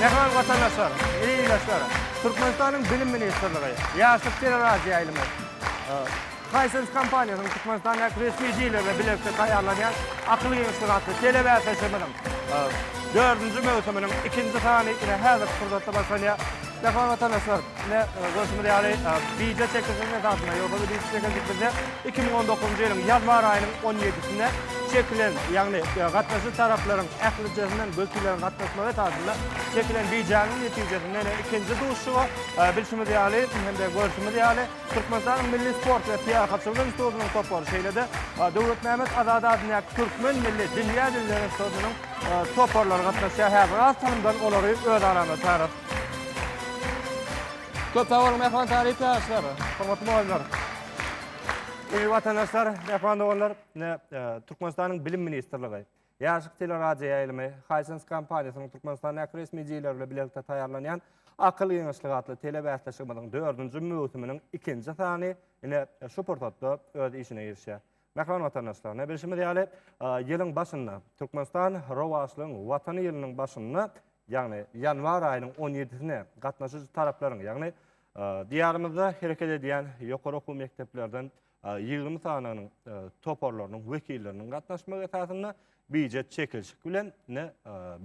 Mähriban watandaşlar, ildeşler! Türkmenistanyň Bilim ministrligi, Ýaşlyk teleradioýaýlymy, Hisense kompaniýasynyň Türkmenistandaky resmi jili bilen bilelikde taýýarlanýan Akyl giňişligi atly telebäsleşigimiziň dördünji möwsüminiň ikinji sany ine häzirki pursatda başlanýar. Merhaba watandaşlar. Ine, görşümiz ýaly, bije çekilişiniň esasynda, ýogsa biz bije çekildik bizde iki müň on dokuzynjy ýylyň ýanwar aýynyň on ýedisinde çekilen, ýagny gatnaşyjy taraplaryň ählijesinden wekilleriň gatnaşmagy esasynda çekilen bijäniň netijesinde ine ikinji duşuşyga bilşimiz ýaly hem-de görşümiz ýaly Türkmenistanyň Milli sport we syýahatçylyk institutynyň topary, şeýle-de Döwletmämmet Azady adyndaky Türkmen milli dünýä dilleri institutynyň toparlary gatnaşýar. Häzir az salymdan olary öz aramyzda çagyralyň. Köp sag boluň Mähriban talyp ýaşlar, hormatly mugallymlar. Dürli watandaşlar, mähriban doganlar, ine, Türkmenistanyň Bilim ministrligi, Ýaşlyk teleradioýaýlymy, Hisense kompaniýasynyň Türkmenistandäki resmi jigileri bilen bilelikde taýýarlanýan Akyl giňişligi atly telebäsleşigimiziň dördünji möwsüminiň ikinji sany, ine, şu pursatda öz işine girişýär. Mähriban watandaşlar, ne bilşimiz ýaly, ýylyň başynda, Türkmenistan rowaçlygyň Watany ýylynyň başynda, ýagny ýanwar aýynyň on ýedisine gatnaşyjy taraplaryň, ýagny Diýarymyzda hereket edýän ýokary okuw mekdeplerden ýigrimi sanynyň toparlarynyň wekilleriniň gatnaşmagy esasynda Býujet çekilişik bilen ine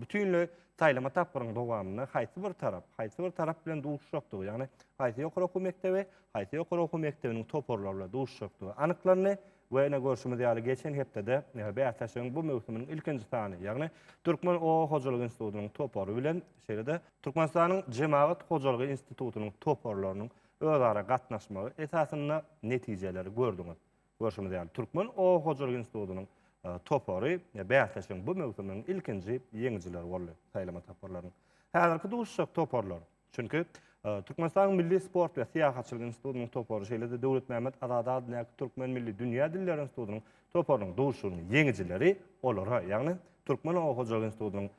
bütinleý saýlama tapgyryň dowamynda haýsy bir tarap, haýsy bir tarap bilen duşuşakdygy, ýagny haýsy ýokary okuw mekdebi, haýsy ýokary okuw mekdebiniň toparlary bilen duşuşakdygy anyklandy we ine görşümiz ýaly geçen hepdede bäsleşigiň bu möwsüminiň ilkinji sany, ýagny Türkmen oba hojalygy institutynyň topary bilen şeýle-de Türkmenistanyň Jemagat hojalygy institutynyň toparlarynyň özara gatnaşmagy esasynda netijeleri gördüňiz. Görşümiz ýaly, Türkmen oba hojalyk institutynyň topary bäsleşigiň bu möwsüminiň ilkinji ýeňijileri boldy, saýlama toparlarynyň. Häzirki duşuşjak toparlar, çünki Türkmenistanyň Milli sport we syýahatçylyk institutynyň topary, şeýle-de Döwletmämmet Azady adyndaky Türkmen milli dünýä dilleri institutynyň toparynyň duşuşygynyň ýeňijileri olara, ýagny Türkmen oba hojalyk institutynyň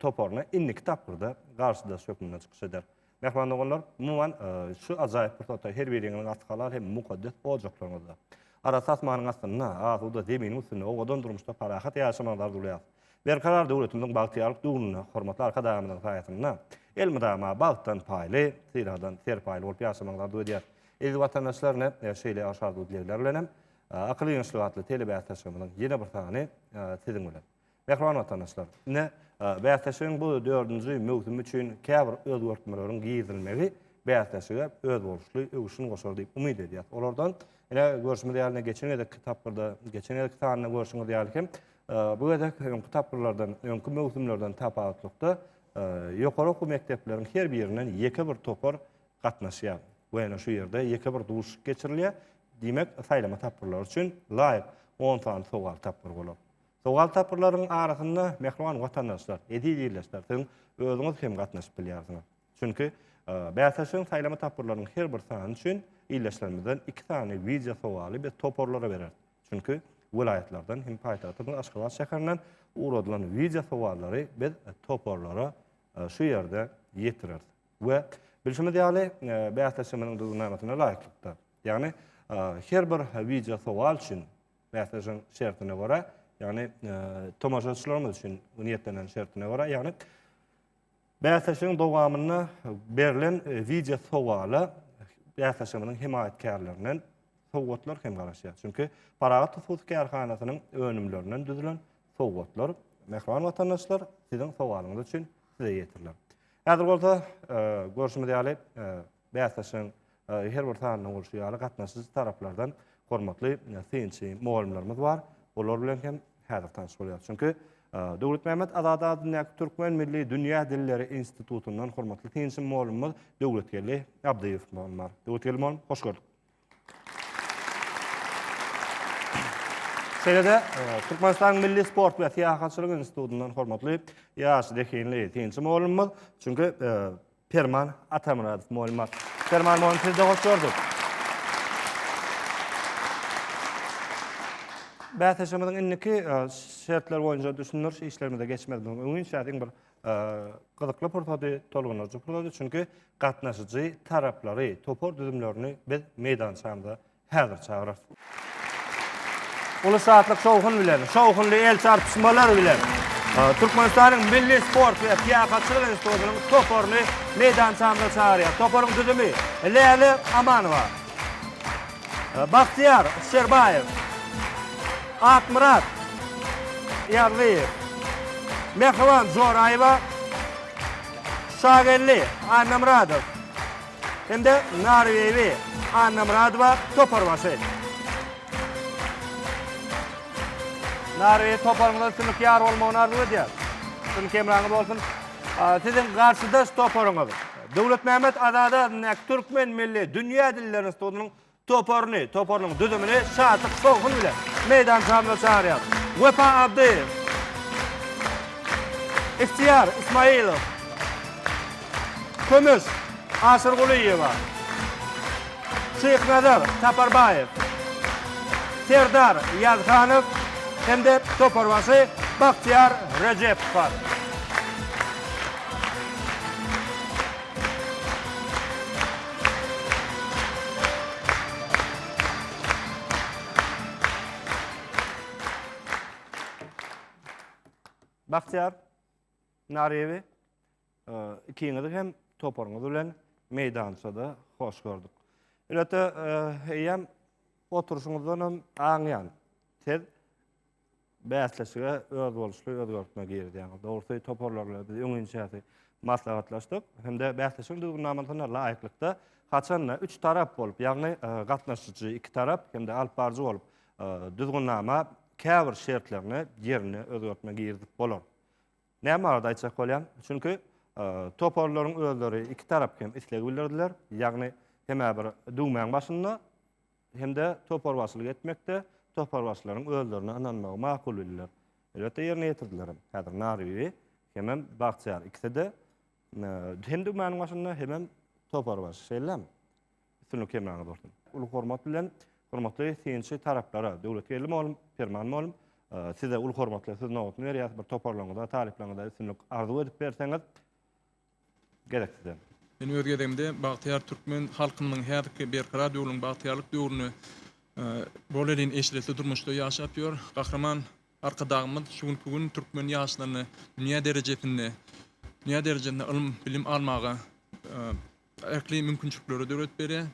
toparyna indiki tapgyrda garşydaş hökmünde çykyş eder. Mähriban doganlar, umuman, şu ajaýyp pursatda her biriňiziň arty halal hem mukaddes ojaklaryňyzda, arasy asmanyň astynda, asuda zeminiň üstünde owadan durmuşda parahat ýaşamagyňyzy arzuwlaýarys. Berkarar döwletimiziň bagtyýarlyk döwründe hormatly Arkadagymyzyň saýasynda elmydama bagtdan paýly, sylagdan serpaýly bolup ýaşamagyňyzy arzuw edýäris. Eziz watandaşlar, ine, şeýle hoş arzuw-dilegler bilen hem Akyl ýeňişligi atly telebäsleşigimiziň ýene bir sany siziň bilen. Mähriban watandaşlar, ine, bäsleşigiň bu dördünji möwsümi üçin käbir özgertmeleriň girizilmegi bäsleşige özboluşly öwüşgin goşar diýip umyt edýäris. Olardan, ine, görşümiz ýaly, ine, geçen gezekki tapgyrda, geçen gezekki sanda görşüňiz ýaly hem, bu gezek öňki tapgyrlardan, öňki möwsümlerden tapawutlykda, ýokary okuw mekdepleriň her birinden ýeke bir topar gatnaşýar we, ine, şu ýerde ýeke bir duşuşyk geçirilýär. Diýmek, saýlama tapgyrlary üçin laýyk on sany sowal tapgyry bolar. Sowal tapgyrlarynyň arasynda, mähriban watandaşlar, eziz ildeşler, siz özüňiz hem gatnaşyp bilýärsiňiz. Çünki bäsleşigiň saýlama tapgyrlarynyň her bir sany üçin ildeşlerimizden iki sany wideo sowaly biz toparlara bereris. Çünki welaýatlardan hem paýtagtymyz Aşgabat şäherinden ugradylan wideo sowallary biz toparlara şu ýerde ýetireris. We bilşimiz ýaly, bäsleşigimiziň düzgünnamasyna laýyklykda, ýagny her bir wideo sowal üçin Bäsleşigiň şertine görä, ýagny tomaşaçylarymyz üçin niýetlenen şertine görä, ýagny bäsleşigiň dowamynda berlen wideo sowala bäsleşigimiziň hemaýatkärlerinden sowgatlar hem garaşýar. Çünki Parahat hususy kärhanasynyň önümlerinden düzülen sowgatlar mähriban watandaşlar siziň sowalyňyz üçin size ýetiriler. Häzir bolsa e, görşümiz ýaly e, Bäsleşigiň her bir sanynyň bolşy ýaly, gatnaşyjy taraplardan hormatly synçy mugallymlarymyz bar. Olar bilen hem häzir tanyş bolýarys. Çünki Döwletmämmet Azat adyndaky Türkmen milli dünýä dilleri institutyndan hormatly synçy mugallymymyz Döwletgeldi Abdyýew mugallym bar. Döwletgeldi mugallym, hoş gördük. Şeýle-de, Türkmenistanyň Milli sport we syýahatçylyk institutyndan hormatly ýaş zehinli synçy mugallymymyz, çünki Perman Atamyradow mugallym bar. Perman mugallym, sizi-de hoş gördük. Bäsleşigimiziň indiki şertleri boýunça düşündiriş işlerimize geçmezimiziň öňünçä, diňe bir gyzykly pursady tolgundyryjy pursady çünki gatnaşyjy taraplary topar düzümlerini biz meýdançamyza häzir çagyrarys uly şatlyk şowhun bilen şowhunly el çarpyşmalar bilen Türkmenistanyň milli sport we syýahatçylyk institutynyň toparyny meýdançamyza çagyrýar toparyň düzümi Läle Amanowa Bagtyýar Şerbaýew, Akmyrat Ýazlyýew, Mähriban Joraýewa, Şageldi Annamyradow hem-de Narbeýbi Annamyradowa toparbaşy. Narbeýew toparyňyza üstünlik ýar bolmagyny arzuw edýäris. Üstünlik hemraňyz bolsun. Siziň garşydaş toparyňyz Döwletmämmet Azady adyndaky Türkmen milli dünýä dilleri institutynyň toparyny, toparynyň düzümini şatlyk şowhun bilen meýdançamyza çagyrýarys. Wepa Abdyýew. Ihtiýar Ismaýylow. Kömüş Aşyrgulyýewa. Şyhnazar Saparbaýew. Serdar Ýazhanow hem-de toparbaşy Bagtyýar Rejepow bar. Bagtyýar Naryýewi ikiňizi hem toparyňyz bilen meýdançada hoş gördük. Elbetde eýýäm oturşyňyzdan hem aňýan. Siz bäsleşige özboluşly özgertme girizýäňiz. Dogrusy, toparlar bilen biz öňinçäsi maslahatlaşdyk hem-de bäsleşigiň düzgünnamasyna laýyklykda haçanda üç tarap bolup, ýagny e, gatnaşyjy iki tarap hem-de alypbaryjy bolup e, düzgünnama käbir şertlerini ýerine özgertme girizip bolar. Näme barada aýtjak bolýan? Çünki e, toparlaryň özleri iki tarap hem islegi bildirdiler. Ýagny hemä bir düwmäň başynda hem-de toparbaşylyk etmekde toparbaşylaryň özlerine ynanmagy makul bildiler. Elbetde ýerine ýetirdiler hem. Häzir Nary bibi hemem Bagtyýar ikisi-de hem düwmäniň başynda, hemem toparbaşy. Şeýlemi? Üstünlik hemraňyz bolsun. Uly hormat bilen, hormatly synçy taraplara, Döwletgeldi mugallym, Perman mugallym, size uly hormatly, siz nobatyny berýäs, bir toparlaryňyza, talyplaryňyza üstünlik arzuw edip berseňiz. Gerek size. Men öz gezegimde bagtyýar türkmen halkymynyň häzirki Berkarar döwrüň bagtyýarlyk döwrüni bolelin eşretli durmuşda ýaşap ýör. Gahryman Arkadagymyz şu günki gün türkmen ýaşlaryny dünýä derejesinde dünýä derejesinde ylym, bilim almaga ähli mümkinçilikleri döredip berýär.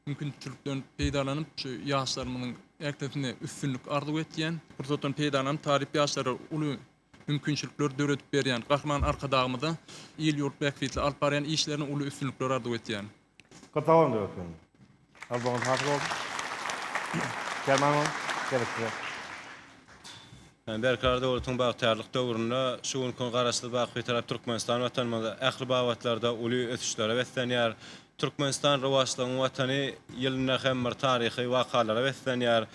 Mümkinçilikden peýdalanyp, şu ýaşlarymyzyň ählisine üstünlik arzuw etýän. Pursatdan peýdalanyp, talyp ýaşlara uly mümkinçilikler döredip berýän Gahryman Arkadagymyza il-ýurt bähbitli alyp barýan işlerine uly üstünlikler arzuw etýän. Köp sag boluň Döwlet meniň. Galpygyňyz hasyl bolsun. Kerman boluň. Geljekde. Berkarar döwletiň bagtyýarlyk döwründe şu günki Garaşsyz, baky Bitarap Türkmenistan Watanymyz ähli babatlarda uly ösüşlere beslenýär. Türkmenistan rowaçlygyň Watany ýylynda hem bir taryhy wakalara beslenýär.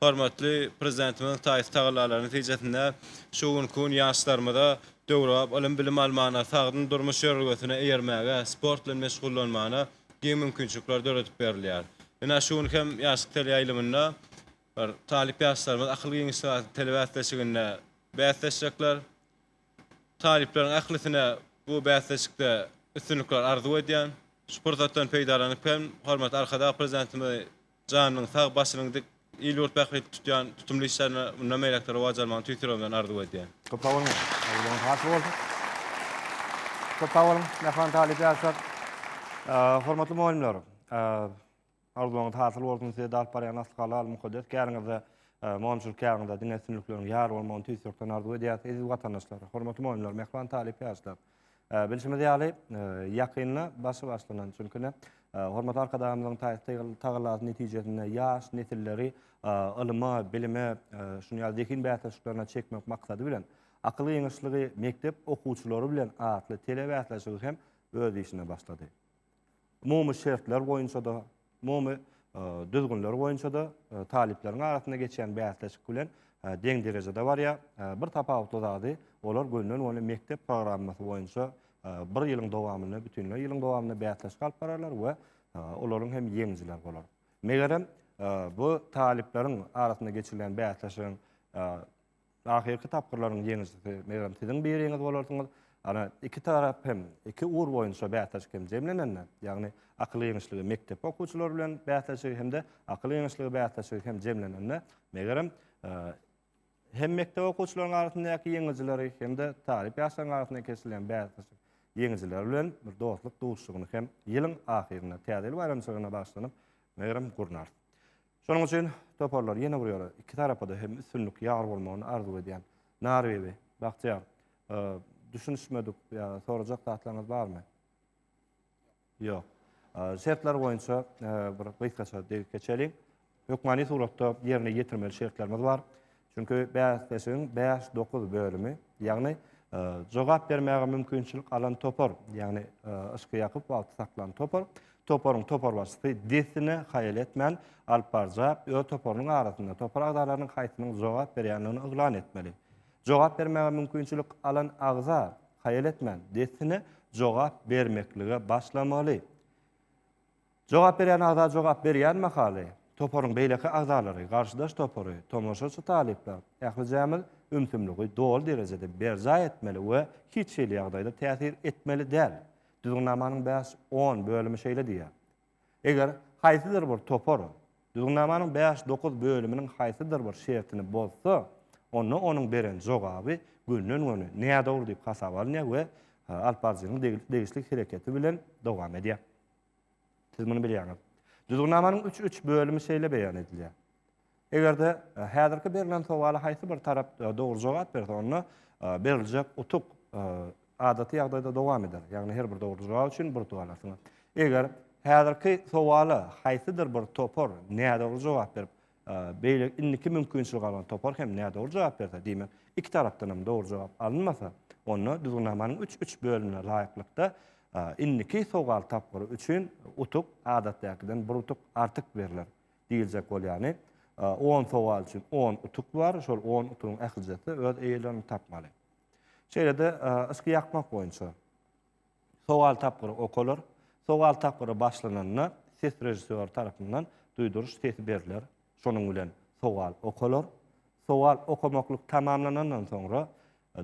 Hormatly Prezidentimiziň taýsyz tagallalary netijesinde şu günki gün ýaşlarymyza döwrebap ylym-bilim almana, sagdyn durmuş ýörelgesine eýermäge, sport bilen meşgullanmana giň mümkinçilikler döredip berilýär. Ynha, şu gün hem Ýaşlyk teleýaýlymynda. Talyp ýaşlarymyz akyl giňişlik atly telebäsleşiginde bäsleşjekler. Talyplaryň ählisine bu bäsleşikde üstünlikler arzuw edýän. Şu pursatdan peýdalanyp hem hormatly Arkadag Prezidentimizi janynyň sag, başynyň dik, il-ýurt bähbitli tutýan tutumly işlerine mundan beýläk-de rowaç almagyny tüýs ýüregimden arzuw edýän. Köp sag boluň! Aýgydyňyz hasıl bolsun! Köp sag boluň, mähriban talyp ýaşlar! Hormatly mugallymlar! Arzuwlaryňyz hasyl bolsun size de alyp barýan asly halal mukaddes käriňizde Mogynçylyk käriňizde diňe üstünlikleriň ýar bolmagyny tüýs ýürekden arzuw edýäs eziz watandaşlar hormatly mogynlar mähriban talyp ýaşlar bilşimiz ýaly ýakynda başy başlanan çünki ne hormatly arkadagymyzyň tagallasy netijesinde ýaş nesilleri ylyma bilime şuny ýaly zehin bäsleşiklerine çekmek maksady bilen akyl giňişligi mekdep okuwçylary bilen atly telebäsleşigi hem öz işine başlady. umumy şertler boýunça-da, umumy düzgünler boýunça-da talyplaryň arasynda geçýän bäsleşik bilen deň derejede barýar. Bir tapawutly zady, olar gönden-göni mekdep programmasy boýunça bir ýylyň dowamynda, bütinleý ýylyň dowamynda bäsleşik alyp bararlar we olaryň hem ýeňijileri bolar. Megerem, bu talyplaryň arasynda geçirilýän bäsleşigiň Ahyrky tapgyrlaryň ýeňijisi megerem siziň biriňiz bolarsyňyz. Ana, iki tarap hem, iki ugur boýunça bäsleşik hem jemlenende, ýagny akyl ýeňişligi mekdep okuwçylary bilen bäsleşigi hem-de akyl ýeňişligi bäsleşigi hem jemlenende, megerem, hem mekdep okuwçylaryň arasyndaky ýeňijileri hem-de talyp ýaşlaryň arasynda geçirilýän bäsleşik ýeňijileri bilen bir dostluk duşuşygyny hem ýylyň ahyrynda, Täze ýyl baýramçylygyna bagyşlanyp, megerem, gurnarys. Şonuň üçin toparlar ýene bir ýere, iki tarapa-da hem üstünlik ýar bolmagyny arzuw edýän. Narbibi, Bagtyýar, düşünişmedik ýa sorajak zatlaryňyz barmy? Ýok. Şertler boýunça bir gysgaça degip geçeliň. Hökmany suratda ýerine ýetirmeli şertlerimiz bar. Çünki bäsleşigiň bäş, dokuz bölümi, ýagny jogap bermäge mümkinçilik alan topar, ýagny yşky ýakyp wagty saklan topar, toparyň toparbaşysy dessine haýal etmän alyp barja öz toparynyň arasynda topar agzalarynyň haýsynyň jogap berýändigini yglan etmeli. Jogap bermäge mümkinçilik alan agza haýal etmän dessine jogap bermeklige başlamaly. Jogap berýän agza jogap berýän mahaly, toparyň beýleki agzalary, garşydaş topary, tomaşaçy talyplar, ählijämiz ümsümligi doly derejede berjaý etmeli we hiç hili ýagdaýda täsir etmeli däl. Düzgünnamanyň bäş, on bölümi şeýle diýýär. Eger haýsydyr bir topar Düzgünnamanyň bäş, dokuz bölüminiň haýsydyr bir şertini bozsa, onda onuň beren jogaby günden-güne nädogry diýip hasaba alynýar we alyp baryjynyň degişli hereketi bilen dowam edýär. Siz muny bilýäňiz. Düzgünnamanyň üç üç bölümi şeýle beýan edilýär. Eger-de e, häzirki berlen sowala haýsy bir tarap e, dogry jogap berse, onda e, beriljek utuk adaty ýagdaýda dowam eder. Ýagny her bir dogry jogap üçin bir utuk alarsyňyz. Eger häzirki sowala haýsydyr bir topar nädogry jogap berip, Beýle indiki mümkinçiligi alan topar hem nädogry jogap berse, diýmek, iki tarapdan hem dogry jogap alynmasa, onda düzgünnamanyň üç üç bölümine laýyklykda indiki sowal tapgyry üçin utuk adatdakiden bir utuk artyk berler. Diýiljek bolýany, on sowal üçin on utuk bar, şol on utugyň ählijesi öz eýelerini tapmaly. Şeýle-de yşky ýakmak boýunça Sowal tapgyry okalar. Sowal tapgyry başlananda ses režissýory tarapyndan duýduryş sesi berler. Şonuň bilen sowal okalar. Sowal okamaklyk tamamlanandan soňra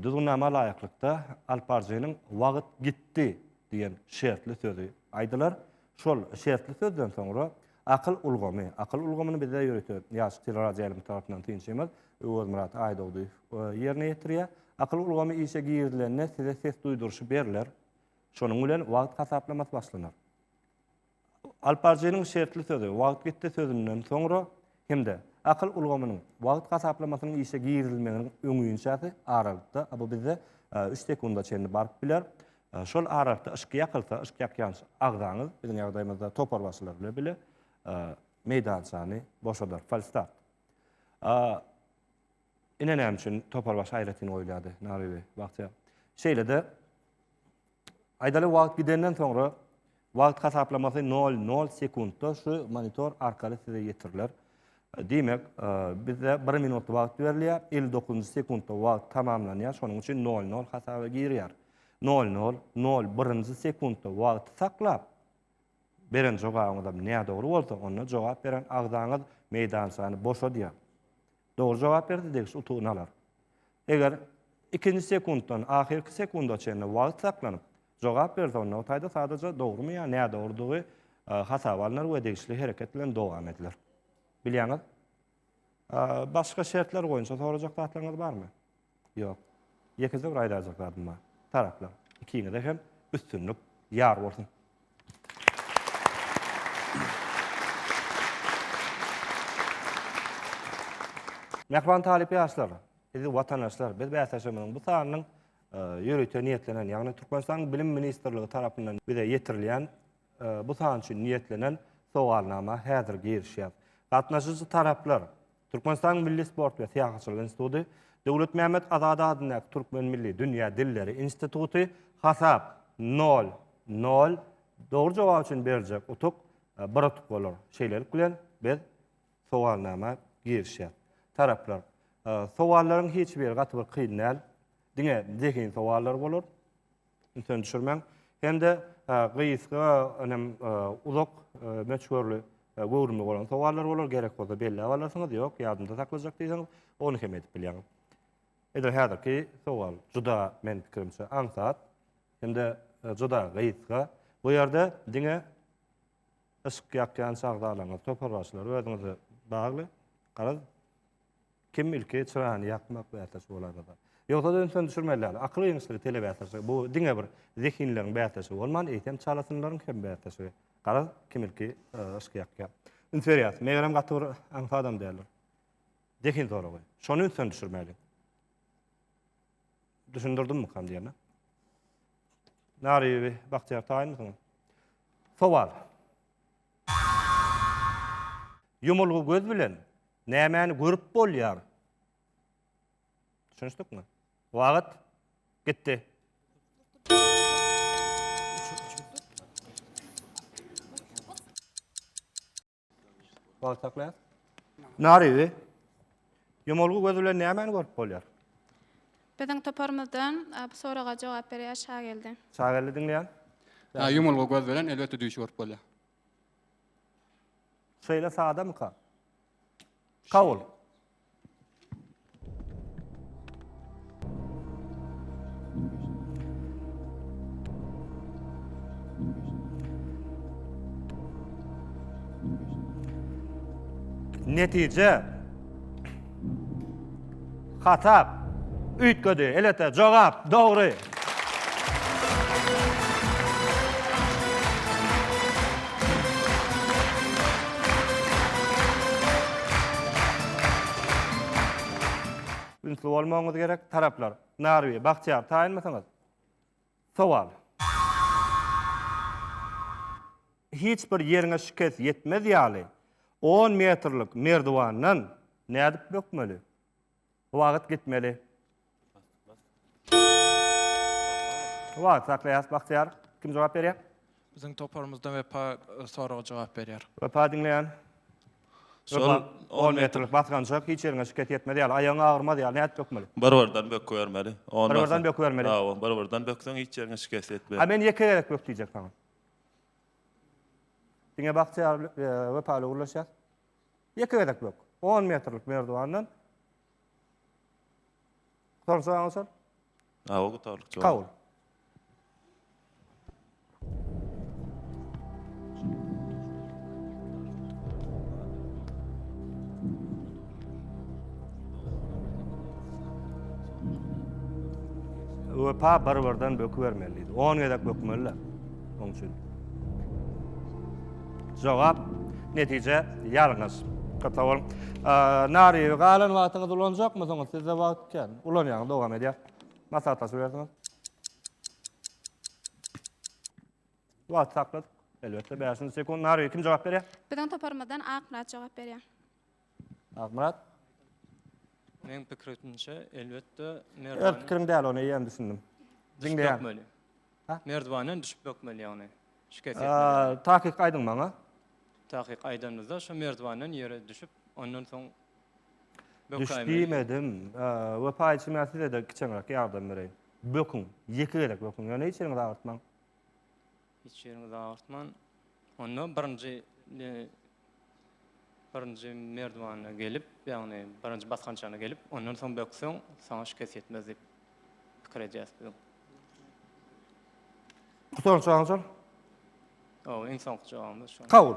Düzgünnama laýyklykda alyp baryjynyň Wagt gitdi! diýen şertli sözi aýdylar. Şol şertli sözden soňra akyl ulgamy, akyl ulgamyny bizde ýörite ýaş teleradioýaýlymçy tarapyndan synçymyz Öwezmyrat Aýdogdyýew ýerine ýetirýär. Akyl ulgamy işe girizilende size ses duýduryşy berler. Şonuň bilen wagt hasaplamasy başlanar. Alyp baryjynyň şertli sözi, wagt gitdi sözünden soňra hem-de akyl ulgamynyň wagt hasaplamasynyň işe girizilmeginiň öňüinçäsi aralykda, a bu bizde üç sekunda çenli baryp biler. Şol aralykda yşk ýakylsa, yşk ýakýanç agzaňyz, biziň ýagdaýymyzda toparbaşylar bile bile meýdançany boşadar, falstart. A ine näme üçin toparbaşy aýratyn goýulýardy, Nabi beg, bagtyýar. Şeýle-de Aýdaly wagt gidenden soňra wagt hasaplamasy nol nol sekuntda şu monitor arkaly size ýetiriler. Diýmek, e, bizde bir minut wagt berilýär, elli dokuzynjy sekuntda wagt tamamlanýar, şonuň üçin nol nol hasaba girýär. Nol nol nol birinji sekuntda wagty saklap, beren jogabyňyzam nädogry bolsa, onda jogap beren agzaňyz meýdançany boşadýar. Dogry jogap berse degişli utugyny alar. Eger ikinji sekuntdan ahyrky sekunda çenli wagt saklanyp, jogap berse onda o taýda sadaja dogrymy ýa nädogrydygy hasaba alnar we degişli hereket bilen dowam ediler. Bilýäňiz? Başga şertler boýunça sorajak zatlaryňyz barmy? Ýok. Ýekeje bir aýdaljak zadym bar. Taraplar, ikiňize hem üstünlik ýar bolsun! Mähriban talyp ýaşlar, eziz watandaşlar, biz bäsleşigimiziň bu sanynyň ýörite niýetlenen, ýagny Türkmenistanyň Bilim ministrligi tarapyndan bize ýetirilýän bu san üçin niýetlenen sowalnama häzir girişýär. Gatnaşyjy taraplar, Türkmenistanyň Milli sport we syýahatçylyk instituty, Döwletmämmet Azady adyndaky Türkmen milli dünýä dilleri instituty, hasap, nol, nol, dogry jogap üçin beriljek utuk, bir utuk bolar. Şeýlelik bilen, biz sowalnama girişýäs. Taraplar, sowallaryň hiç biri gaty bir kyn däl, diňe zehin sowallary bolar. ünsüni düşürmäň. Hem-de gysga, önem uzak möçberli göwrümi bolan sowallar bolar, gerek bolsa belläp alarsyňyz, ýok, ýadymda saklajak diýseňiz, ony hem edip bilýäňiz. Edil häzirki sowal juda, meniň pikirimçe, aňsat hem-de juda gysga. Bu ýerde diňe Yşk ýakýan şahzalaňyz, toparbaşylar özüňize bagly. Garaz, kim ilki çyrany ýakmak bäsleşigi bolarmyka? Ýogsa-da ünsüni düşürmeli däl. Akyl ýeňişligi telebäsleşigi. Bu diňe bir zehinleriň bäsleşigi bolman, eýsem çalasynlaryň hem bäsleşigi. Garaz, kim ilki yşk ýakýar. Üns berýäs. Megerem gaty bir aňsadam däldir. Zehin soragy. Şony ünsden düşürmeli. Düşündirdimmikan diýene. Nariýewi Bagtyýar taýynmysyňyz? Sowal. Ýumulgy göz bilen nämäni görüp bolýar? Düşünişdikmi? Wagt gitdi. Wagt saklaýar. Narizi. Ýomulgy göz bilen nämäni görüp bolýar? Biziň toparymyzdan bu soraga jogap berýär Şageldi. Şageldi diňleýän. Ha, ýumulgy göz bilen elbetde düýş görüp bolýar. Şeýle sadamyka? Kabul. Netije Hatap üýtgedi. Elbetde jogap dogry. Ünsli bolmagyňyz gerek, taraplar. Narwi, Bagtyýar, taýynmysyňyz? Sowal. Hiç bir ýeriňe şikes ýetmez ýaly, on metrlik merdiwandan nädip bökmeli? Wagt gitmeli. Wagt saklaýas Bagtyýar. Kim jogap berýär? Biziň toparymyzdan Wepa e, soraga jogap berýär. Wepa diňleýän. Şol Wepa 10 metrlik basgançak hiç ýeriňe şikes ýetmez ýaly, aýagyň agyrmaz ýaly nädip bökmeli? Bir-birden bökübermeli. Ondan Bir-birden soň- bökübermeli. Hawa, bir-birden bökseň hiç ýeriňe şikes A ýetmez. men ýeke gezek bök diýjek saňa. Diňe Bagtyýar e, Wepa ile gürleşýär. Ýeke gezek bök. On metrlik merdiwandan. Sorsa aňsar. Awa gutarlyk jogap. Kabul. Wepa bir birden bökübermeliydi. On gezek bökmeliler. Onun için. Jogap, Netije ýalňyş. Gata bol. Nariýewi galan wagtyňyzy ulanjakmysyňyz? Sizde wagt kän. Ulanýaňyz, dowam edýär. Maslahatlaşybersiňiz. Wagty sakladyk. Elbetde, bäşinji sekunt. Nariýewi kim jogap berýär? Biziň toparymyzdan Akmyrat jogap berýär. Akmyrat. Meň pikrimçe, elbetde, merdiwanyň... Öz pikiriň däl, ony eýýäm düşündim. Düşüp bökmeli. Merdiwanyň düşüp bökmeli, ýagny. Şikes ýetmeli. Takyk aýdyň maňa. Takyk aýdanymyzda, şu merdiwanyň ýere düşüp, ondan soň... Düş diýmedim. Wepa içi men size-de kiçeňräk ýardam bereýin. Böküň. Ýeke gezek böküň. Ýöne hiç ýeriňizi agyrtmaň. Hiç ýeriňizi agyrtman, onda birinji birinji merdwana gelip, ýagny birinji basgançagyna gelip, ondan soň bökseň, saňa şikes ýetmez diýip pikir edýäs biz. Soňky jawabyňyzam? Hawa, iň soňky jogabymyz şo. Kabul.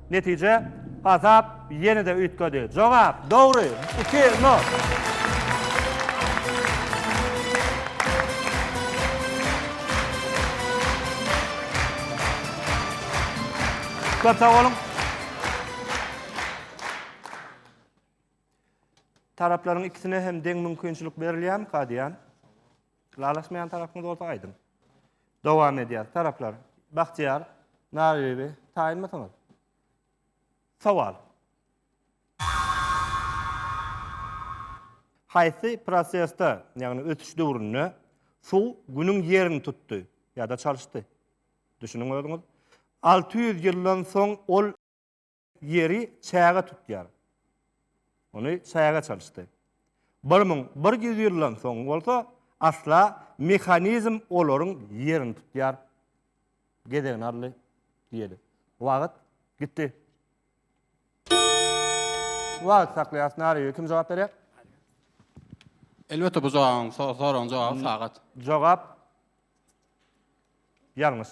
Netije, Azap ýene-de üýtgedi. Jogap, Dogry! Iki nol! Köp sag boluň! Taraplaryň ikisine hem deň mümkinçilik berilýärmi, Kadýa? Ylalaşmaýan tarapyňyz bolsa aýdyň. Dowam edýär. Taraplar Bahtiýar, Narybibi taýynmysyňyz? Sowal. Haýsy prosesde, ýagny ösüş döwründe suw Günüň ýerini tutdy ýa-da çalyşdy? Düşüniň özüňiz. Alty ýüz ýyldan soň ol. Ýeri çäge tutýar. Ony çäge çalyşdy. Bir müň bir ýüz ýyldan soň bolsa, asla mehanizm olaryň ýerini tutýar. Gezegini aldy diýeli. Wagt gitdi. Wagt saklaýas, näreýär, kim jogap berýär? Elbetde bu jogabyň, soragyň jogaby sagat. Jogap ýalňyş.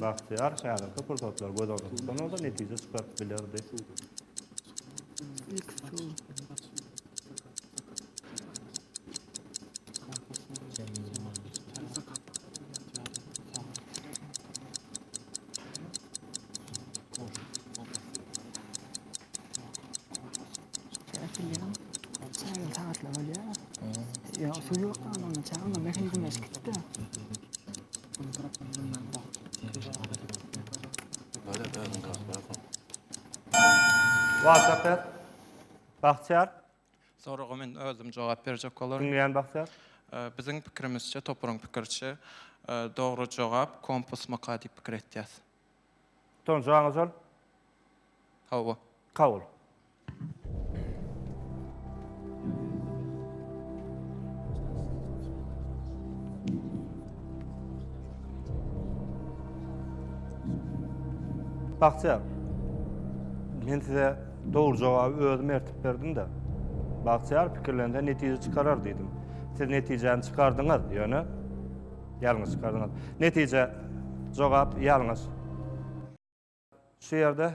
Bagtyýar häzirki pursatlary göz öňünde tutan bolsa netije çykaryp bilerdi. Ilk tur. Ya su yok da anamda çağırma. Mehe güneş gitti de. WhatsApp et. Bahtyar. Soraga men özüm jogap berjek bolaryn. Diňleýän Bahtyar. Biziň pikirimizçe, toparyň pikiriçe, dogry jogap kompus myka diýip pikir etýäs. Tonja aňa çal. Hawa. Kabul. Bagtyýar. Men size dogry jogaby özüm ertip berdim-de. Bagtyýar pikirlense netije çykarar diýdim. Siz netijäni çykardyňyz, ýöne Ýalňyş çykardyňyz. Netije, jogap ýalňyş. Şu ýerde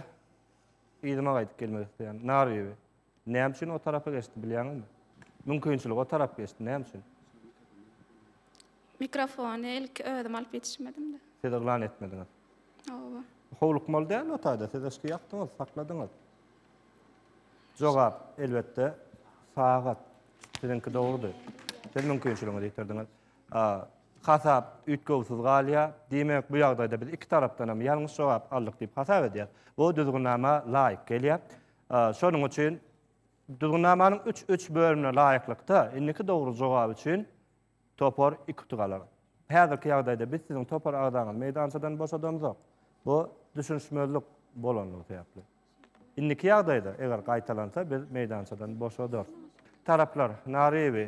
yzyma gaýdyp gelmek isleýän. Nar bibi. Näme üçin o tarapa geçdi bilýäňizmi? Mümkinçilik o tarap geçdi. Näme üçin? Mikrofony ilki özüm alyp ýetişmedim-de. Siz yglan etmediňiz. Oba. Howlukmaly dälmi o taýda? Siz yşky ýakdyňyz, sakladyňyz. Jogap, elbetde, sagat. Siziňki dogrudy. Siz mümkinçiligiňizi ýitirdiňiz. A. Hasap üýtgewsiz galýar. Diýmek, bu ýagdaýda biz iki tarapdan hem ýalňyş jogap aldyk diýip hasap edýäris. Bu düzgünnama laýyk gelýär. Şonuň üçin düzgünnamanyň üç üç bölümine laýyklykda indiki dogry jogap üçin topar iki utuk alar. Häzirki ýagdaýda biz siziň topar agzaňyzy meýdançadan boşadamzok. Bu düşünişmezlik bolandygy sebäpli. Indiki ýagdaýda, eger gaýtalansa, biz meýdançadan boşadarys. Taraplar, Naryýewi,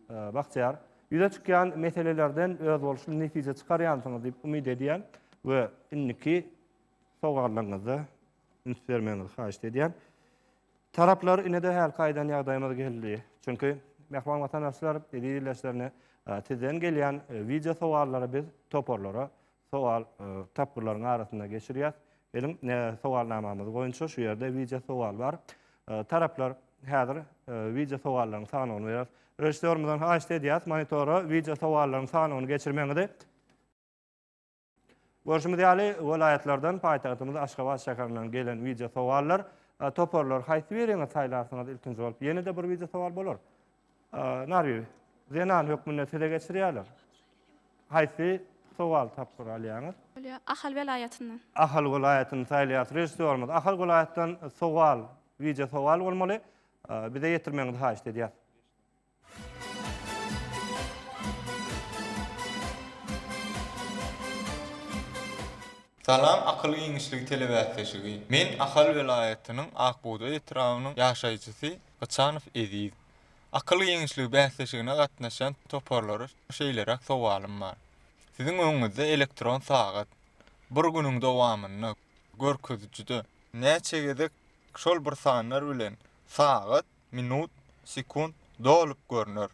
Bagtyýar, ýüze çykýan meselelerden özboluşly netije çykarýansyňyz diýip umyt edýän we indiki sowallarňyzda üns bermegiňizi haýyşt edýän. Taraplar, ine-de hälki aýdan ýagdaýymyz geldi. Çünki, mähriban watandaşlar, eziz ildeşlerine sizden gelýän wideo sowallary biz toparlara sowal tapgyrlaryň arasynda geçirýäs. Geliň, sowalnamamyz boýunça şu ýerde wideo sowal bar. Taraplar häzir wideo sowallaryň sanawyny berýär. Režissýorymyzdan haýyşt edýäs, monitora wideo sowallaryň sanawyny geçirmegiňizi. Görşümiz ýaly, welaýatlardan, paýtagtymyz Aşgabat şäherinden gelen wideo sowallar. Toparlar haýsy biriňiz saýlarsyňyz ilkinji bolup? Ýene-de bir wideo sowal bolar. Narwi, zenan hökmünde size geçirýärler. Haýsy sowaly tapgyry alýaňyz? Bolýar. Ahal welaýatyndan. Ahal welaýatyny saýlaýarys. Režissýorymyz, Ahal welaýatdan sowal, wideo sowal bolmaly. Bize ýetirmegiňizi haýyşt edýäs. Salam Akyl giňişligi telebäsleşigi. Men Ahal welaýatynyň Akbugdaý etrabynyň ýaşaýjysy Gyçanow Eziz. Akyl giňişligi bäsleşigine gatnaşýan toparlara şeýleräk sowalym bar. Siziň öňüňizde elektron sagat. Bir günüň dowamynda görkezijide näçe gezek şol bir sanlar bilen sagat, minut, sekunt dolup görner?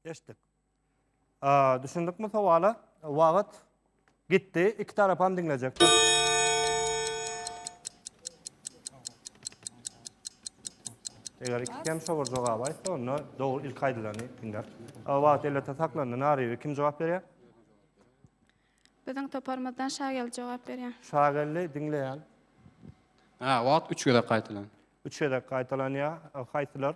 Eşitdik. Aa, düşündikmi sowala? Wagt gitdi. Iki tarap hem diňlejekdir. Eger iki kem şowur jogap aýtsa, onda dogry ilk aýdylany diňler. Aa, Wagt elbetde saklandy. Naribi kim jogap berýär? Biziň toparymyzdan Şagel jogap berýär. Şagelli diňleýän. Ha, wagt üç gezek gaýtalan. Üç gezek gaýtalanýar. Haýsylar?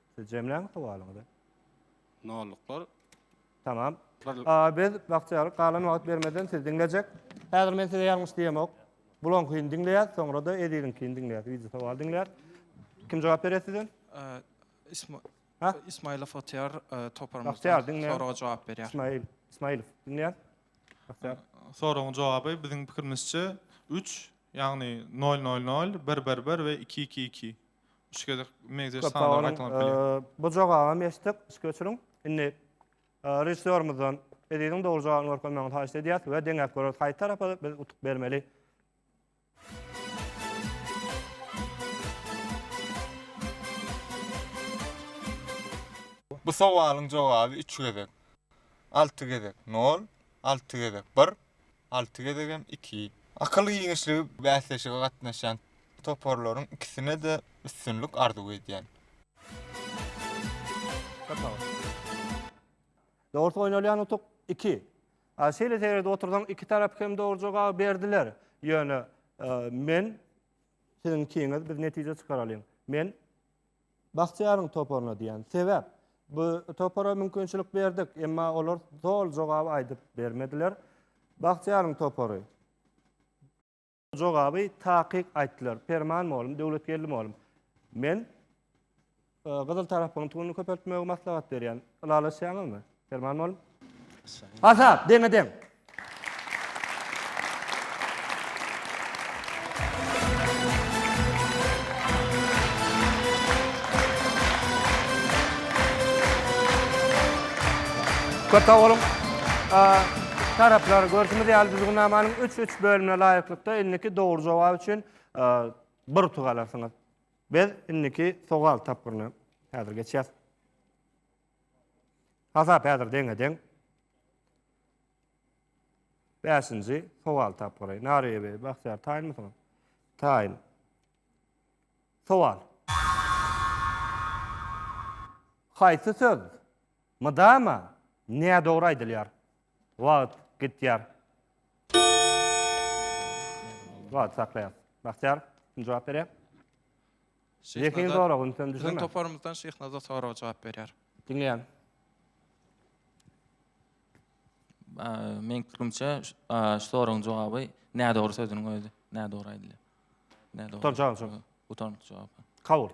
Siz jemläň sowalyňyzy. Nolluklar. Tamam. Bir- A, Biz bagtyýarlyk galan wagt bermeden sizi diňlejek. Häzir men size ýalňyş diýemok. Bulankyny diňleýäs, soňra-da Eziziňkini diňleýäs. Wideo sowaly diňleýäs. Kim jogap berýär size? Ee, İsma- Ha? İsmailow Otyar e, Bahtiyar, toparymyzdan dinle. soraga jogap berýär. İsmail. İsmailov. Diňleýän. Bagtyýar. Soragyň jogaby biziň pikirimizçe 3, ýagny 000, 111 we 222. Üç gezek meňzeş Köp sag sanlar boluň. gaýtalanyp bilýär. Eee, Bu jogabam eşitdik. Üstki öçüriň. Indi eee, režissýorymyzdan Eziziň dogry jogabyny görkezmegini haýyşt edýäs we deňäp göreris haýsy tarapa biz utuk bermeli. Bu sowalyň jogaby üç gezek. Alty gezek nol, alty gezek bir, alty gezegem iki. Akyl giňişligi bäsleşige gatnaşýan toparlaryň ikisine-de üstünlik arzuw edýän. Dogrusu oýnalýan utuk iki. A şeýle seredip otursaň iki tarap hem dogry jogaby berdiler. Ýöne men siziň ikiňiz biz netije çykaralyň. Men Bagtyýaryň toparyna diýýän. Sebäp, bu topara mümkinçilik berdik, emma olar doly jogaby aýdyp bermediler. Bagtyýaryň topary. Jogaby takyk aýtdylar. Perman molum, Döwletgeldi molum. Men gyzyl tarapyň tuguny köpeltmegi maslahat berýän. Ylalaşýaňyzmy? Perman mol. Azat, deňe deň. Köp sag boluň. Taraplar, görşümiz ýaly düzgünnamanyň üç, üç bölümine laýyklykda indiki dogry jogap üçin bir utuk alarsyňyz. Biz indiki sowal tapgyryna häzir geçýäs. Hasap häzir deňe-deň. Bäşinji sowal tap garaý. Nariýe bey, Bahtiýar taýynmysyňyz? Taýyn. Sowal. Haýsy söz mydama nädogry aýdylýar? Wagt gitýär. Wagt saklaýas. Bahtiýar, kim jogap berýär? Zehin zorag ünsem düşürme. Biziň toparymyzdan Şehnazar soraga jogap berýär. Diňleýän. Men pikrimçe şu soragyň jogaby nädogry sözüniň özi. Nädogry aýdylýar. Nädogry. Utanjak jogap. Utanjak jogap. Kabul.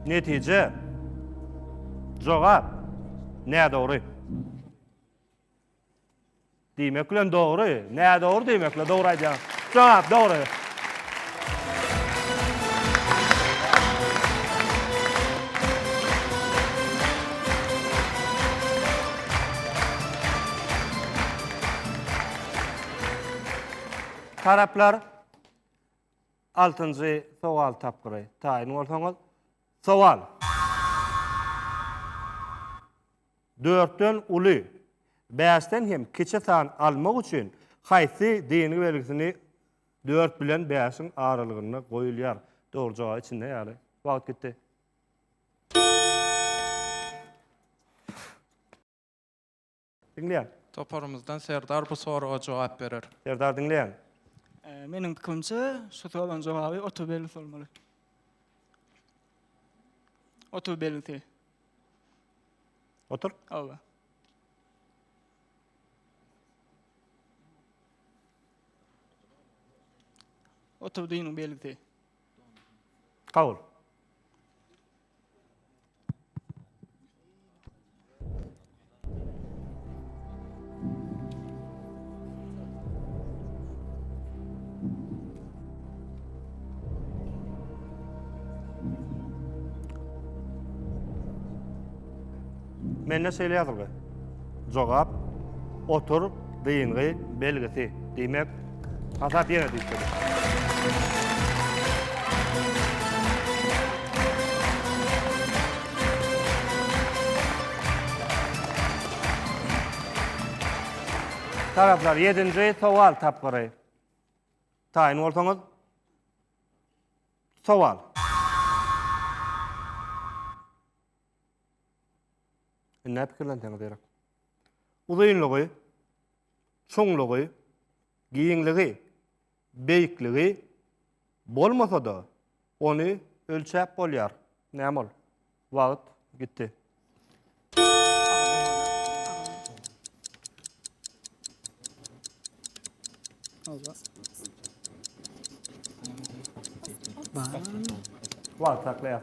Netije. Jogap. Nädogry. Diýmek bilen dogry, nädogry diýmek bilen dogry aýdýaň. Jogap dogry. Taraplar altynjy sowal tapgyry taýyn bolsaňyz, sowal. Dörtden uly, bäşden hem kiçi san almak üçin haýsy deýingi belgisini dört bilen bäşiň aralygynda goýulýar? Dogry jogaby içinde ýaly. Wagt gitdi. Diňleýän. Toparymyzdan Serdar bu soraga jogap berer. Serdar diňleýän. Meniň pikirimçe, şu soragyň jogaby otur belgisi bolmaly. Otur belgisi. Otur. Oba. Otur dinin belgisi. Kabul. Mende şeýle ýazylgy. Jogap otur Dyngy belgisi diýmek hasap ýene düşdi. Taraplar ýedinji sowal tapgyry taýyn bolsaňyz. Sowal. Indi pikirlenseňiz gerek. Uzynlygy, çuňlugy, giňligi, beýikligi bolmasa-da, ony ölçäp bolýar. Näme ol? Wagt gitdi. Wagt saklaýar.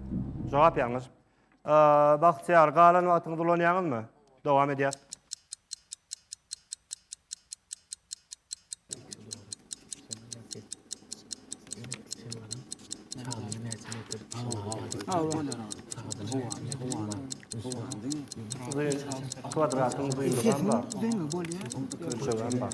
Jogap ýalňyş. Bagtyýar, galan wagtyňyzy ulanýaňyzmy? Dowam edýär. Kwadratın düýnügem bar. Ölçegem bar.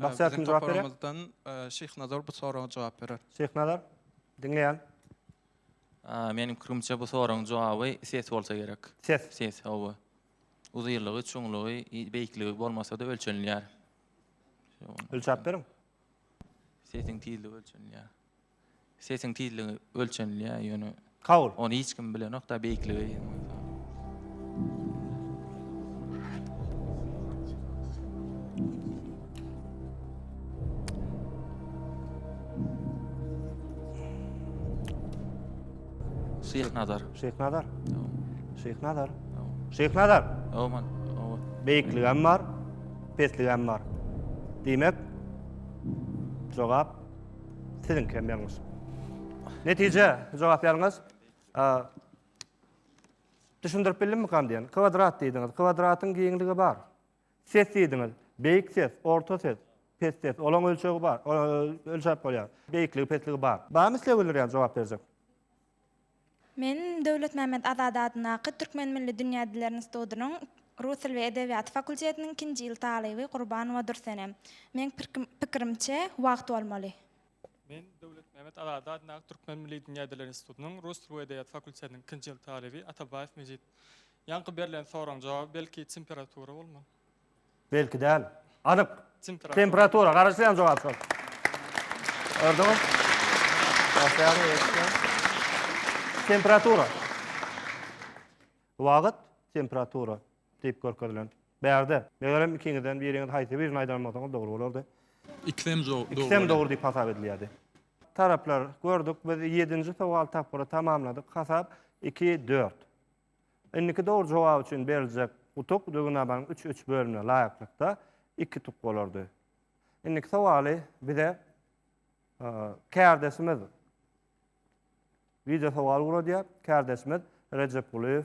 Bahtiýar kim jogap berýär? Toparymyzdan e, Şehnazar bu soraga jogap berer. Şehnazar, diňleýän. Meniň pikirimçe bu soragyň jogaby ses bolsa gerek. Ses. Ses, hawa. Uzynlygy, çuňlugy, beýikligi bolmasa-da ölçenilýär. Ölçäp beriň. Sesiň tizligi ölçenilýär. Sesiň tizligi ölçenilýär ýöne Kabul. ony hiç kim bilenok da beýikligi. Şyh Nazar. Şeýh Nazar. Şeýh Nazar. Şeýh Nazar. Aman. Beýikligi hem bar, pesligi hem bar. Diýmek, jogap Siziňki hem ýalňyş. Netije, jogap ýalňyş. Düşündirip bildimmi kan diýen? Kwadrat diýdiňiz. Kwadratyň giňligi bar. Ses diýdiňiz. Beýik ses, orta ses, pes ses. Olaň ölçegi bar. Ölçäp bolýar. Beýikligi, pesligi bar. Barmy isleg bildirýän jogap berjek? Men Döwletmämmet Azady adyndaky Türkmen milli dünýä diller institudynyň Rus dil we edebiýaty fakultetiniň ikinji ýyl talyby Gurbanowa Dürsenem. Meň pikirimçe, wagt bolmaly. Men Döwletmämmet Azady adyndaky Türkmen milli dünýä diller institudynyň Rus dil we edebiýaty fakultetiniň ikinji ýyl talyby Atabaýew Mejit. Ýaňky berlen soragyň jogaby belki temperatura bolmaly. Belki däl. Anyk. Temperatura. Garaşýan jogap şol. Gördüňiz? Temperatura. Wagt temperatura diýip görkezilen. Bärde. Megerem ikiňizden biriňiz haýsy birini aýdan bolsaňyz dogry bolardy. Ikisem dogry bolýar. Ikisem dogry diýip hasap edilýärdi. Taraplar gördük. Biz ýedinji sowal tapgyry tamamladyk. Hasap iki, dört. Indiki dogry jogap üçin beriljek utuk Döwünabaň üç üç bölümine laýyklykda iki utuk bolardy. Indiki sowaly bize kärdeşimiz wideosowal ugradýar. Kärdeşimiz Rejepgulyýew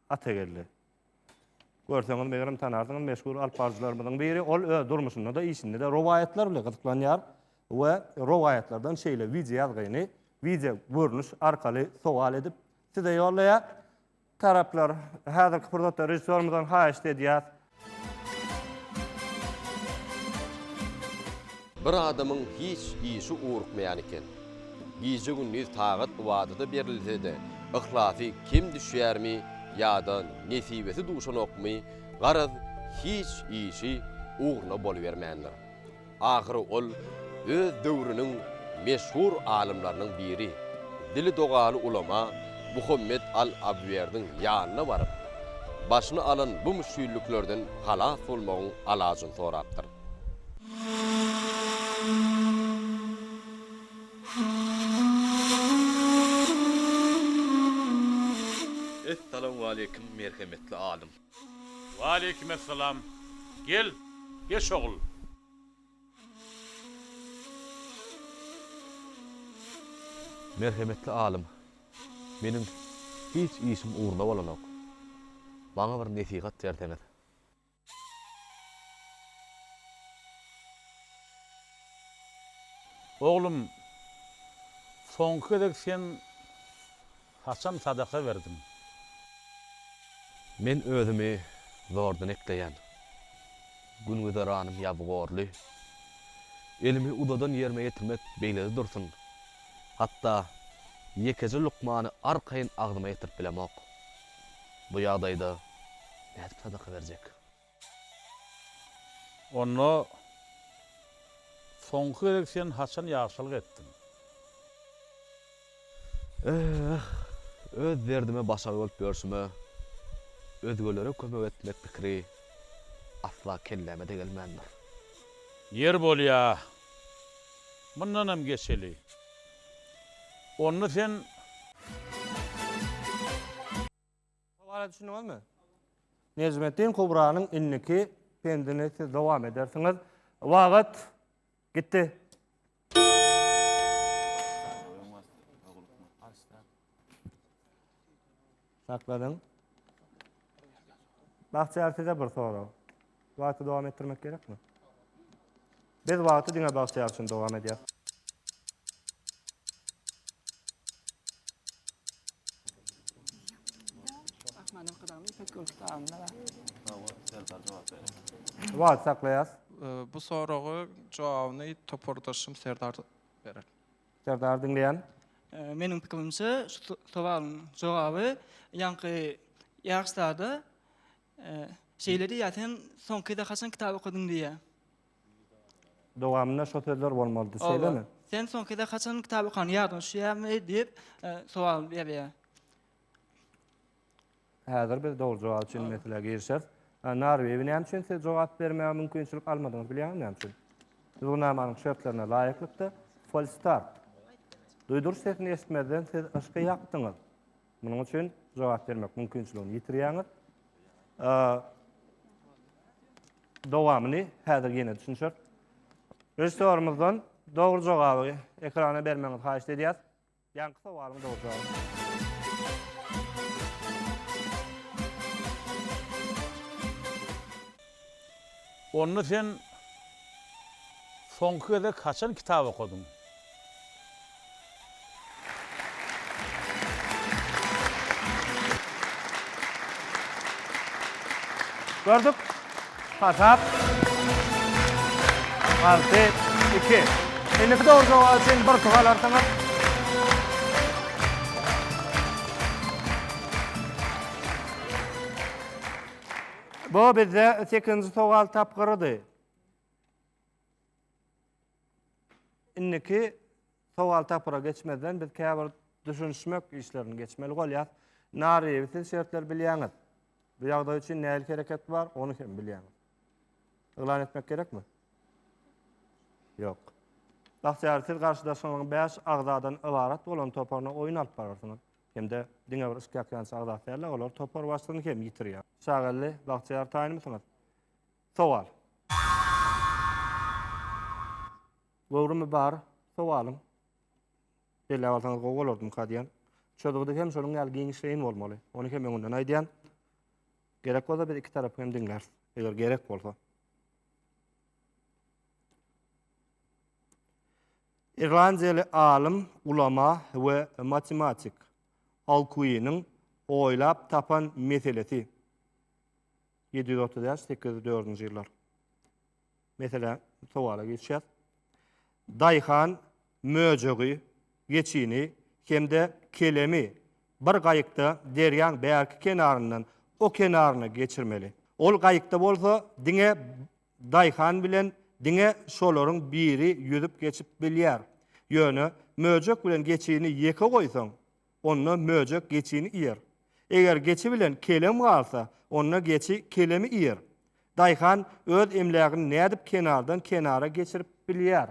Atageldi. Görseňiz, megerem tanarsyňyz, meşhur alyp baryjylarymyzyň biri. Ol öz durmuşynda-da, işinde-de rowaýatlar bilen gyzyklanýar we rowaýatlardan şeýle wideoýazgyny wideo görnüş arkaly sowal edip, Size ýollaýar. Taraplar häzirki pursatda režissýorymyzdan haýyşt edýär. Bir adamyň hiç işi ugrukmaýan eken. Gije-gündiz tagat ybadata berilse-de, yhlasy kem düşýärmi ýa-da nesibesi duşanokmy, garaz, hiç işi ugruna bolubermändir. Ahyry ol öz döwrüniň meşhur alymlarynyň biri, dili dogaly ulama Muhammet al-Abwerdiň ýanyna baryp, başyny alan bu müşgilliklerden halas bolmagyň alajyny sorapdyr. Essalamualeýkum, merhemetli alym! Waleýkim essalam. Gel, geç ogul. Merhemetli alym, meniň hiç işim ugruna bolanok. Maňa bir nesihat berseňiz. Oglum, soňky gezek sen. Haçan sadaka berdiň? Men özümi zordan ekleýän. Gün-güzeranym ýabygorly. Elimi uzadan ýerime ýetirmek beýlede dursun, hatda ýekeje lukmany arkaýyn agzyma ýetirip bilemok. Bu ýagdaýda nädip sadaka berjek? Onda soňky gezek sen haçan ýagşylyk etdiň? Öh, öz derdime başagaý bolup ýörşüme, özgelere kömek etmek pikiri asla kelläme-de gelmändir. Ýeri bolýa, mundanam geçeli. Onda sen. Sowala düşündiňizmi? Nejmetdin Kubranyň indiki pendini siz dowam edersiňiz. Wagat gitdi. Sakladyň. Bagtyýar size bir sorag. Wagty dowam etdirmek gerekmi? Biz wagty diňe bagtyýar üçin dowam edýäs. Wagty saklaýas. Bu soragy jogabyny topardaşym Serdar berer. Serdar diňleýän. Meniň pikirimçe şu sowalyň jogaby ýaňky ýaryşlarda Şeýle diýýär, Sen soňkyda haçan kitap okadyň diýýär. Dowamynda şo sözler bolmalydy, şeýlemi? Oba. Sen soňkyda haçan kitap okan, ýadyňa düşýärmi? diýip, sowal berýär. Häzir biz dogry jogap üçin meselä girişeris. Narbibi näme üçin siz jogap bermäge mümkinçilik almadyňyz, bilýäňizmi näme üçin? Düzgünnamanyň şertlerine laýyklykda, Falstart. Duýduryş sesini eşitmezden siz yşky ýakdyňyz. Munuň üçin jogap bermek mümkinçiligini ýitirýäňiz. Dowamyny häzir ýene düşünşeris. Režissýorymyzdan dogry jogaby ekrana bermegiňizi haýyşt edýäris. Ýaňky sowalyň dogry jogaby. Onda sen soňky gezek haçan kitap okadyň? Gördük. Hasap. Alty, iki. Indiki dogry jogap üçin bir pug alarsyňyz. Bu bizde sekinji sowal tapgyrydy. Indiki sowal tapgyra geçmezden biz käbir düşünişmek işlerini geçmeli bolýar. Naryýewi siz şertleri bilýäňiz. Bu ýagdaý üçin nähili hereket bar, ony hem bilýäňiz. Yglan etmek gerekmi? Ýok. Bagtyýar siz garşydaşyňyzyň 5 agzadan ybarat bolan toparyna oýun alyp bararsyňyz. Hem-de diňe bir üst ýakýançy agzasy däl-de, olar topar başlygyny hem ýitirýär. Çagageldi bagtyýar taýynmysyňyz? Sowal. Göwrümi bar sowalyň. Belläp alsaňyz gowy bolardymyka diýen. Çözgüdi hem şonuň ýaly giňişleýin bolmaly. Ony hem öňünden aýdýan. Gerek bolsa biz iki tarapy hem diňläris. Eger gerek bolsa. Irlandiýaly alym, ulama we matematik Alkuiniň oýlap tapan meselesi, ýedi ýüz otuz bäş, sekiz ýüz dördünji ýyllar, meselä, sowala geçýär, daýhan möjegi, geçini hem-de kelemi bir gaýykda derýaň bärki kenaryndan o kenaryna geçirmeli. Ol gaýykda bolsa diňe Daýhan bilen diňe şolaryň biri ýüzüp geçip bilýär. Ýöne möjek bilen geçini ýeke goýsaň, onda möjek geçini iýer. Eger geçi bilen kelem galsa, onda geçi kelemi iýer. Daýhan öz emlägini nädip kenardan kenara geçirip bilýär?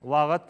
Wagt.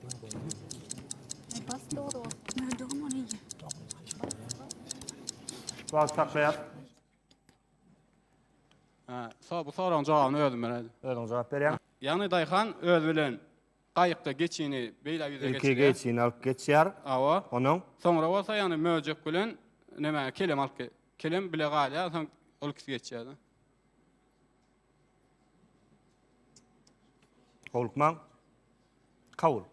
Wagt saklaýar. Ha, so bu soragyň jogabyny özüm bereli. Özüň jogap berýäň. Ýagny daýhan öz bilen gaýykda geçini beýle ýüze geçirýär. Ilki geçini alyp geçýär. Awa. Onuň. Soňra bolsa ýagny möjek bilen näme kelem alyp kelem bile galýar, soň ol ikisi geçýär. Howlukmaň. Kabul.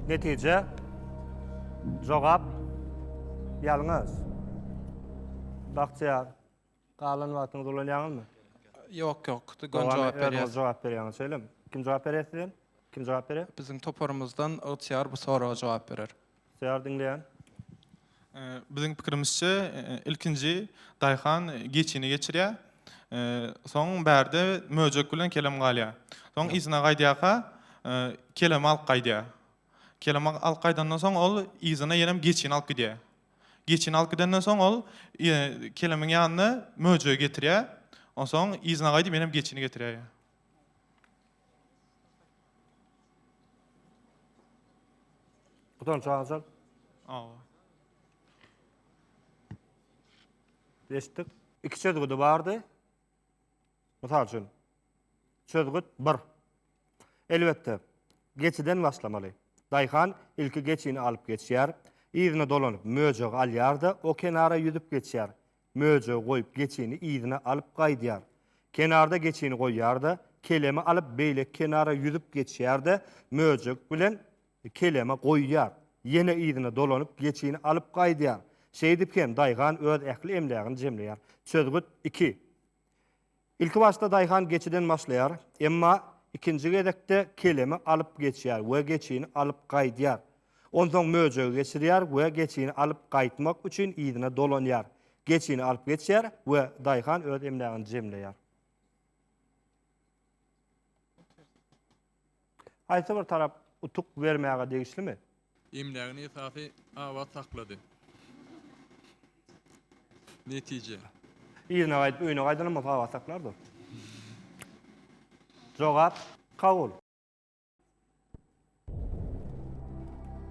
Netije. Jogap. Ýalňyş. Bagtyýar. Galan wagtyňyzy ulanýaňyzmy? Ýok, ýok. Dogan jogap berýär. Jogap berýäňiz, şeýlemi? Kim jogap berýär sizden? Kim jogap berýär? Biziň toparymyzdan ygtyýar bu soraga jogap berer. Ygtyýar diňleýän. Biziň pikirimizçe, ilkinji daýhan geçini geçirýär. Soň bärde möjek bilen kelem galýar. Soň yzyna gaýdýarka, kelemi alyp gaýdýar. Kelemi alyp gaýdandan soň ol yzyna ýenem geçini alyp gidýär. Geçini alyp gidenden soň ol kelemiň ýanyna möjegi getirýär. Onsoň yzyna gaýdyp ýenem geçini getirýär. Budan çagajak. Awa. Eşitdik. İki çözgüdi bardy. Mysal üçin, çözgüt bir. Elbetde, geçiden başlamaly. Daýhan ilki geçini alyp geçýär, yzyna dolanyp möjegi alýar-da, o kenara ýüzüp geçýär, möjegi goýup geçini yzyna alyp gaýdýar. Kenarda geçini goýýar-da, kelemi alyp beýleki kenara ýüzüp geçýär-de, möjek bilen Keleme goýýar. Ýene yzyna dolanyp, geçini alyp gaýdýar. Şeýdip hem daýhan öz ähli emlägini jemleýär. Çözgüt iki. Ilki başda daýhan geçiden başlaýar. Emma ikinji gezekde kelemi alyp geçýär we geçini alyp gaýdýar. Onsoň möjegi geçirýär we geçini alyp gaýtmak üçin yzyna dolanýar. Geçini alyp geçýär we daýhan öz emlägini jemleýär. Haýsy bir tarap utuk bermäge degişlimi? Emlägini esasy abat saklady. Netije. Yzyna gaýdyp öýüne gaýdanam bolsa abat saklardyr. Jogap kabul.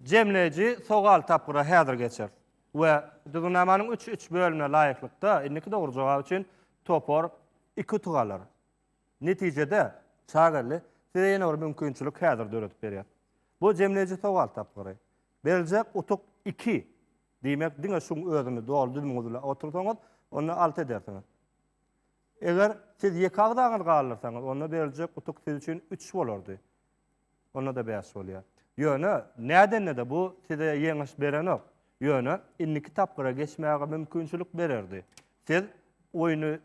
Jemleýji sogal tapgyra häzir geçeris we Düzgünnamanyň üç üç bölümine laýyklykda indiki dogry jogap üçin topar iki utuk alar. Netijede, Çagelli size ýene bir mümkinçilik häzir döredip berýär. Bu jemleýji sogal tapgyry. Beriljek utuk iki. Diýmek, diňe şuň özüni doly düzümiňiz bilen otursaňyz, onda alty edersiňiz. Eger siz ýeke agzaňyzy galdyrsaňyz, onda beriljek utuk siz üçin üç bolardy. Onda-da bäş bolýar. Ýöne, nädende-de bu size ýeňiş berenok. Ýöne, indiki tapgyra geçmäge mümkinçilik bererdi. Siz oýny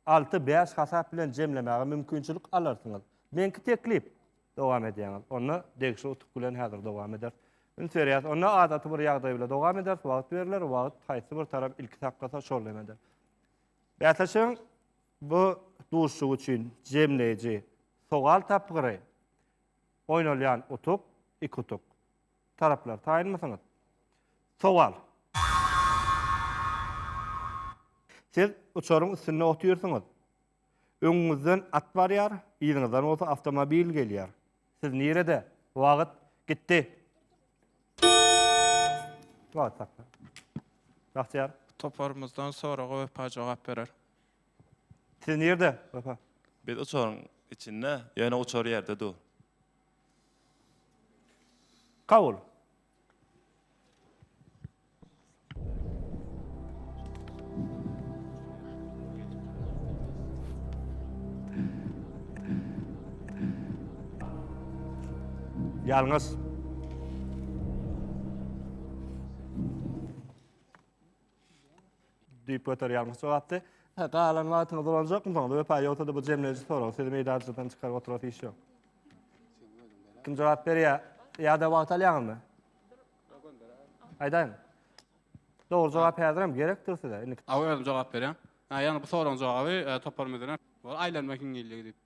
alty, bäş hasap bilen jemlemäge mümkinçilik alarsyňyz. Meňki teklip. Dowam edýäňiz. Onda, degişli utuk bilen häzir dowam ederis. Üns berýäris. Onda, adaty bir ýagdaý bilen dowam ederis. Wagt berler. Wagt, haýsy bir tarap ilki saklasa, şol eder. Bäsleşigiň Bu duşuşyk üçin jemleýji sowal tapgyry, Oýnalýan utuk, iki utuk. Taraplar taýynmysyňyz? Sowal. Siz uçaryň üstünde otyrsyňyz. Öňüňizden at barýar, yzyňyzdan bolsa awtomobil gelýär. Siz nirede? Wagt gitdi. Wagt hakda. Bagtyýar. Toparymyzdan soraga Wepa jogap berer. Siz nirde, Wepa? Biz uçaryň içinde, ýöne uçar ýerde dur. Kabul. Ýalňyz. Düýp göterýärmiş jogapdy. Hä, galan wagtyňyz dolanjakmy soňra? Wepa, ýogsa-da bu jemleýji sorag. Sizi meýdançadan çykaryp oturasy iş ýok. Kim jogap berýär? Ýa-da wagt alýaňyzmy? Aýdaýyň. Dogry jogap häzirem gerekdir size. Indi Aw özüm jogap berýän. Ha, ýagny bu soragyň jogaby e, topar müdüre. Bol aýlanma hiňňilligi diýip.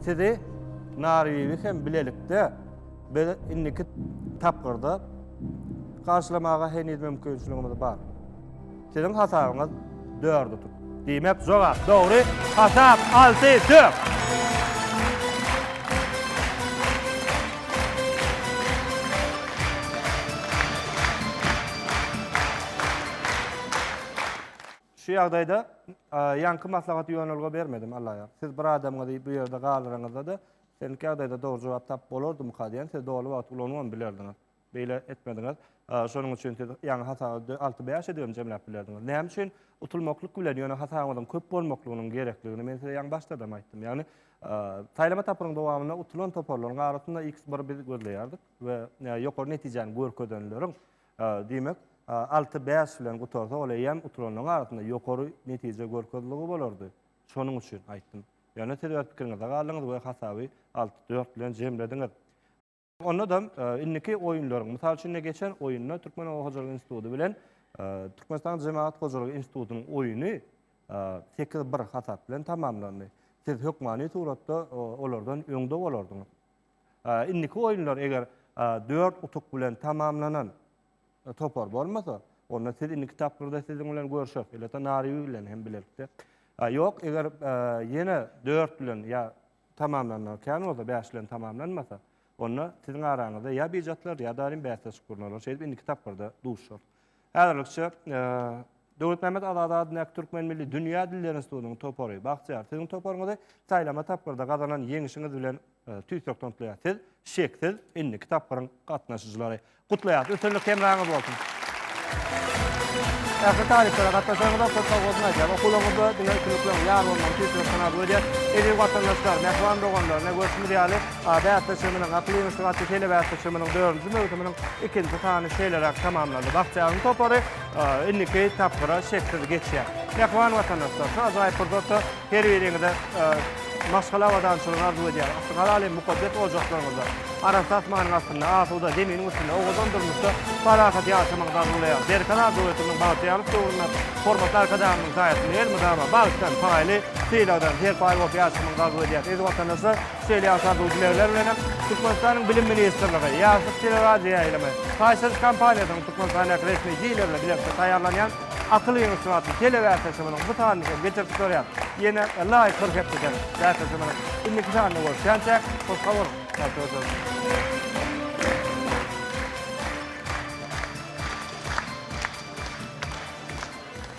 Sizi Narbibi hem bilelikde biz indiki tapgyrda garşylamaga heniz mümkinçiligimiz bar. Siziň hasabyňyz 4 utuk. Diýmek, jogap dogry. Hasap 6-4. Şu ýagdaýda ýaňky maslahaty ýonulga bermedim Allaýar. Siz bir adamyňyzy bu ýerde galdyryňyzda-da, senki ýagdaýda dogry jogap tapyp bolardymyka diýen sözi doly wagty ulanybam bilerdiňiz. Beýle etmediňiz. Şonuň üçin siz ýaňy hasaby alty-bäş edibem jemläp bilerdiňiz. Näme üçin utulmaklyk bilen ýöne hasabyňyzyň köp bolmaklygynyň gerekligini men size ýaňy başdadam aýtdym. Ýagny saýlama tapgyryň dowamynda utulan toparlaryň arasynda x bir biz gözleýärdik we ýokary netijäni görkezenleriň Diýmek, alty bäş bilen gutarsa, ol eýýäm utulanlaryň arasynda ýokary netije görkezligi bolardy. Şonuň üçin aýtdym. Ýöne siz öz pikiriňizde galdyňyz we hasaby alty dört bilen jemlediňiz. Onda-da indiki oýunlaryň, mysal üçin, ine, geçen oýunda Türkmen oba hojalyk instituty bilen Türkmenistanyň Jemagat hojalygy institutynyň oýuny sekiz bir hasap bilen tamamlandy. Siz hökmany suratda olardan öňde bolardyňyz. Indiki oýunlar eger dört utuk bilen tamamlanan topar bolmasa, onda siz indiki tapgyrda siziň bilen görüşeris. Elbetde Nariwi bilen hem bilelikde. Ýok, eger ýene dört bilen ýa tamamlanmagy kän bolsa, bäş bilen tamamlanmasa, onda siziň araňyzda ýa bijatlar, ýa-da bäsleşik gurnalar. Şeýdip indiki tapgyrda duşarys. Häzirlikçe, Döwletmämmet Azady adyndaky Türkmen milli dünýä dilleri institutynyň topary, bagtyýar, siziň toparyňyzy saýlama tapgyrda gazanan ýeňişiňiz bilen tüýsürekden gutlaýar. Siz, şeksiz, indiki tapgyryň gatnaşyjylary. Gutlaýarys! Üstünlik hemraňyz bolsun! Ähli talyplara gatnaşanyňyza köp sag bolsun aýdýarys. Okuwlaryňyzda diňe üstünlikleriň ýar bolmagyny tüýsürekden arzuw edýäris. Eziz watandaşlar, mähriban doganlar, ine görşümiz ýaly, Ady äpleçeminiň, Akyl ýeňişlik atly telebe äpleçeminiň dördünji möwsüminiň ikinji sany şeýleräk tamamlandy. Bagtyýaryň topary indiki tapgyra şeksiz geçýär. Mähriban watandaşlar, şu ajaýyp pursatda her biriňize maşgala abadançylygy arzuw edýäris. Yssy halal hem mukaddes ojaklaryňyzda, arassa asmanyň astynda, asuda zeminiň üstünde, owadan durmuşda parahat ýaşamagyňyzy arzuwlaýarys. Berkarar arzuw höküminiň bagtyýarlyk döwründe hormatly Arkadagymyzyň saýasynda elmydama bagtdan, paýly sylagdan serpaý bolup ýaşamagyňyzy arzuw edýäris. Eziz watandaşlar! Şeýle ýagdaýda dilegler bilen hem Türkmenistanyň Bilim ministrligi, Ýaşlyk teleradioýaýlymy, Taýsyz kompaniýasynyň Türkmenistandaky resmi jiýlerine bilelikde taýýarlanýan Akyl ýygyşygy atly telebäsleşigimiziň bu sanyny hem geçirip durýar. Ýene laýyk bir hepdeden bäsleşigimiziň indiki sanynda görüşýänçä, hoş sag boluň, sagja-sag.